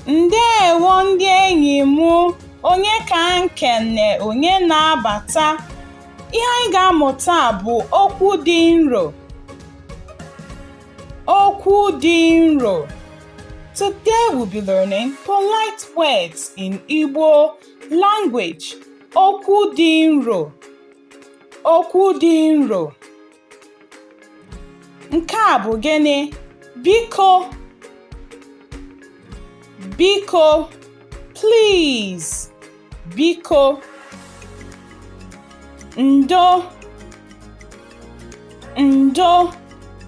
ndeewo ndị enyi m onye ka a na-ekene onye na-abata ihe anyị ga-amụta bụ okwu dị nro Okwu dị nro. Today we'll be learning polite words in Igbo language. Okwu dị nro. Okwu dị nro. Nke a bụ gịnị? Biko. Biko. Please. biko ndo ndo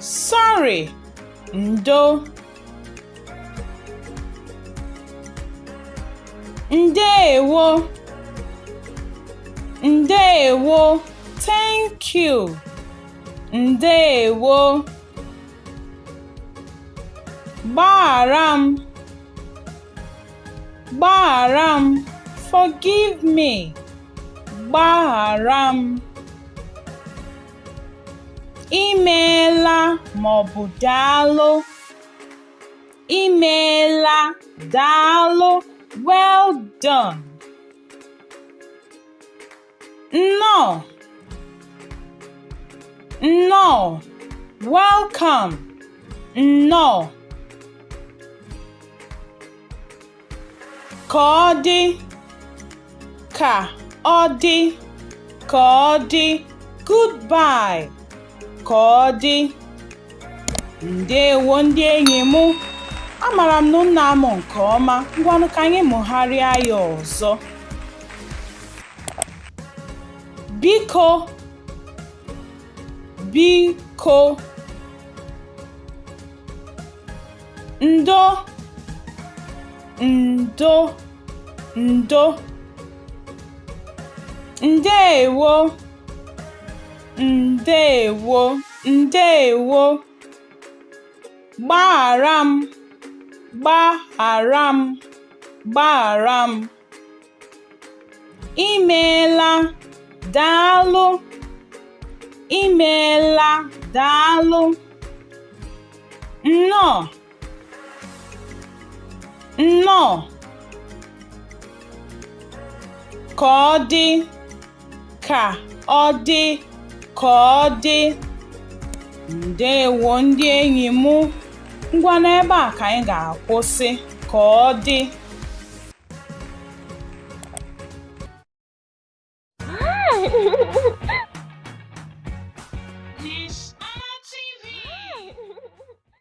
sorry ndo ndewo ndewo thank you ndewo gbaghara m gbaghara m forgive me gbaghara m imeela maọbụ daalụ imeela daalụ well done Nnọọ! Nnọọ! Welcome! Nnọọ! Ka ọ dị! Ka ọ dị! Ka ọ dị! Goodbye! ka ọ dị ndewo ndị enyi m amara m na unu na-amụ nke ọma ngwanụ ka anyị mụgharịa ya ọzọ biko biko ndo ndo ndo ndewo Ndewo, ndewo. Gbaghara m, gbaghara m, gbaghara m. I meela, daalụ. I meela, daalụ. Nnọọ. nnọọ ka ọ dị ka ọ dị ka ọ dị ndewo ndị enyi m ngwanụ ebe a ka anyị ga-akwụsị ka ọ dị